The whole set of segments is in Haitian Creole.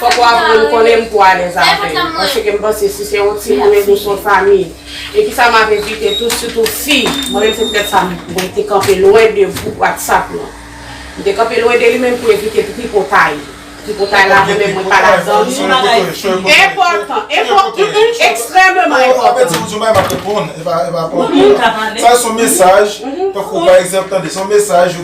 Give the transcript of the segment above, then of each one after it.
Fòk ou aprann konnen m pou w alèz avè m. Paske m panse si se yon timoun e nou s yon fanmi. E kisa m ap evite tou, sitou fi, mwen menm se poutèt sa mwen te kanpe lwen de gwoup whatsapp lan. M te kanpe lwen de li menm pou evite tripotay. Tripotay la mwen menm mwen pa ladan l. Son bagay ki enpòtan. Ekstrèmeman enpòtan.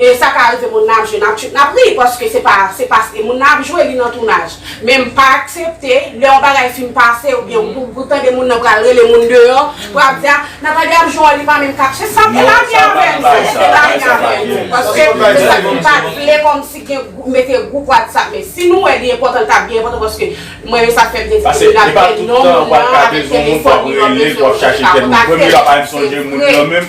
E sa ka rive moun nan ap jwe nap tchuipp nap ri paske se pa se pa e moun nan ap jwe li nan tounaj men m pa aksepte lè yon bagay fin pase oubyen ou tande moun nan pral rele moun deyò pou ap di a Nathalie ap jwe wòl li pa menm kap se sa te lavi avè nou se te lavi avè nou paske se sa nou pat vle kòmsi gen gwoup mete gwoup whatsapp men si nou wè li enpòtan li tap byen enpòtan paske mwen menm sa fèm vin di nap gen non moun nan avèk telefòn li lòt mesye yo kontakte l se vre.